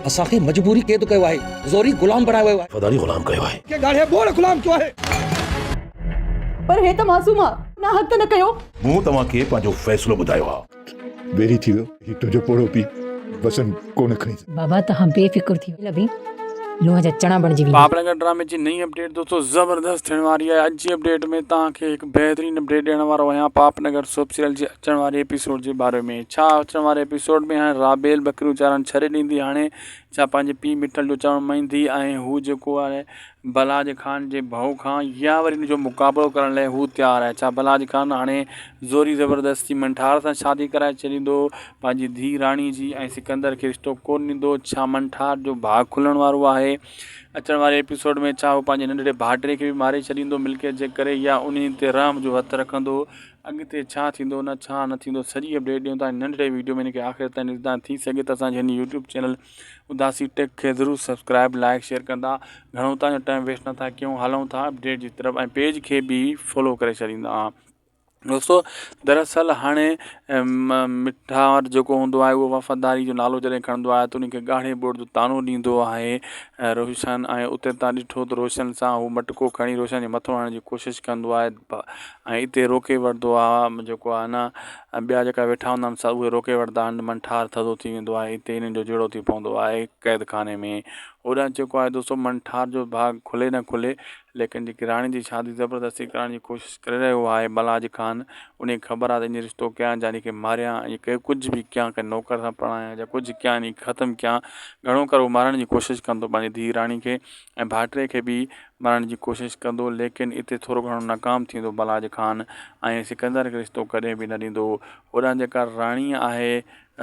اسان کي مجبوري قيد ڪيو آهي. زوري غلام بڻايو ويو آهي. وفاداري غلام ڪيو آهي. کي ڳاڙهي ٻوڙ غلام ڪيو آهي. پر هي ته معصوم آ. ناحق ته نه ڪيو. مون توهان کي پنهنجو فيصلو ٻڌايو آ. ويري ٿي ويو هي تنهنجو پوڙهو پيء. وسن ڪو نه کڻي. بابا توهان بي فڪر ٿي ويو. لڀي لونء جا چڻا بڻجي ويندا. پاپڙ گهر ڊرامي جي نئين اپڊيٽ دوستو زبردست ٿيڻ واري آهي اڄ جي اپڊيٽ ۾ توهان کي هڪ بهترين اپڊيٽ ڏيڻ وارو آهيان پاپنگر سوپ سيريل جي اچڻ واري ايپيسوڊ جي باري ۾ ڇا اچڻ واري ايپيسوڊ ۾ هاڻي رابيل ٻڪريون چارڻ ڇڏي ڏيندي هاڻي ڇا پنهنجي پيء مٺل جو چوڻ مڃيندي ۽ هو جيڪو آهي بلاج خان جي ڀئو کان يا وري ان جو مقابلو ڪرڻ لاء هو تيار آهي ڇا بلاج خان هاڻي زوري زبردستي منٺار سان شادي ڪرائي ڇڏيندو پنهنجي ڌيء راڻي جي ۽ سڪندر کي رشتو ڪونه ڏيندو ڇا منٺار جو ڀاڳ کلڻ وارو آهي اچڻ واري ايپيسوڊ ۾ ڇا هو پنهنجي ننڍڙي ڀائٽي کي به ماري ڇڏيندو ملڪيت جي ڪري يا انهي تي رحم جو هٿ رکندو اڳتي ڇا ٿيندو نه ڇا نه ٿيندو سڄي اپڊيٽ ڏيون ٿا ننڍڙي ويڊيو ۾ ان کي آخر تائين ڏسندا ٿي سگهي ته اسان جي هن يوٽيوب چينل اداسي ٽيڪ کي ضرور سبسڪرائب لائڪ شيئر ڪندا گهڻو اتان جو ٽائيم ويسٽ نه ٿا ڪيون هلون ٿا اپڊيٽ جي طرف ۽ پيج کي به فالو ڪري ڇڏيندا دوستو دراصل هاڻي مٺار جيڪو هوندو آهي اهو وفاداري جو نالو جڏهن کڻندو آهي ته ان کي ڳاڙهي ٻوڙ جو تانو ڏيندو آهي روشن ۽ اتي تان ڏٺو ته روشن سان هو مٽڪو کڻي روشن جي مٿو هڻڻ جي ڪوشش ڪندو آهي ۽ اتي روڪي وٺدو آ جيڪو آ نه ٻيا جيڪا ويٺا هوندا آهن سا اهي روڪي وٺدا آهن من ٺار ٿڌو ٿي ويندو آهي اتي انهن جو جهيڙو ٿي پوندو آهي قيد خاني ۾ هوڏانهن جيڪو آهي دوستو من ٺار جو ڀاڳ کلي نه کلي ليڪن جيڪي راڻي جي شادي زبردستي ڪرائڻ جي ڪوشش ڪري رهيو آهي بلاج خان ان کي خبر آهي اڃ رشتو ڪيان جاني کي ماريان ۽ ڪي ڪجهه به ڪيان ڪنهن نوڪر سان پرڻايان جا ڪجهه ڪيان ختم ڪيان گهڻو ڪري هو مارڻ جي ڪوشش ڪندو پنهنجي ڌيء راڻي کي ۽ ڀاٽري کي به مرڻ جي ڪوشش ڪندو ليڪن اتي ٿورو گهڻو ناڪام ٿيندو بلاج خان ۽ سڪندر کي رستو ڪڏهن به نه ڏيندو هوڏانهن جيڪا راڻي آهي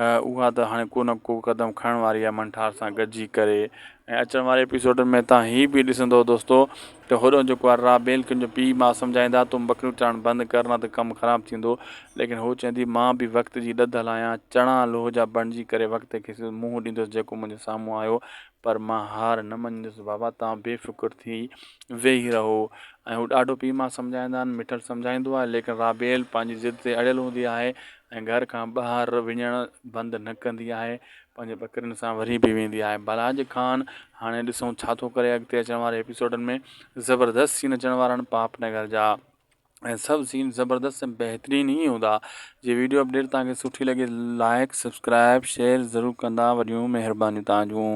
اها ته هاڻي ڪو نه ڪو قدم کڻڻ واري آهي منٺار سان گڏجي ڪري ۽ اچڻ واري ايپيسوڊن ۾ تان هي به ڏسندو دوستو ته هوڏانهن جيڪو آهي رابيل کي ان جو پي ماء سمجهائيندا تون ٻڪريون چرائڻ بند ڪر نه ته ڪم خراب ٿيندو ليڪن هو چوندي مان به وقت جي ڏڌ هلايان چڻا لوهه جا بڻجي ڪري وقت کي سڌو منهن ڏيندس جيڪو منهنجي سامهون آيو پر مان هار نه مڃيندس، بابا توهان بي فڪر ٿي ويهي رهو ۽ هو ڏاڍو پيء ماء سمجهائيندا آهن، مٺڙ سمجهائيندو آهي، ليڪن رابيل پنهنجي ضد تي اڙيل هوندي آهي ۽ گهر کان ٻاهر وڃڻ بند نه ڪندي آهي، پنهنجي ٻڪرين سان وري به ويندي آهي. بلراج خان هاڻي ڏسون ڇا ٿو ڪري، اڳتي اچڻ واري ايپيسوڊن ۾ زبردست سين اچڻ وارا آهن پاپنگر جا. ۽ سڀ سين زبردست ۽ بهترين ئي هوندا جي ويڊيو اپڊيٽ توهان کي سٺي لڳي لائيڪ سبسڪرائيب شيئر ضرور ڪندا وڏيون مهربانيون توهان جون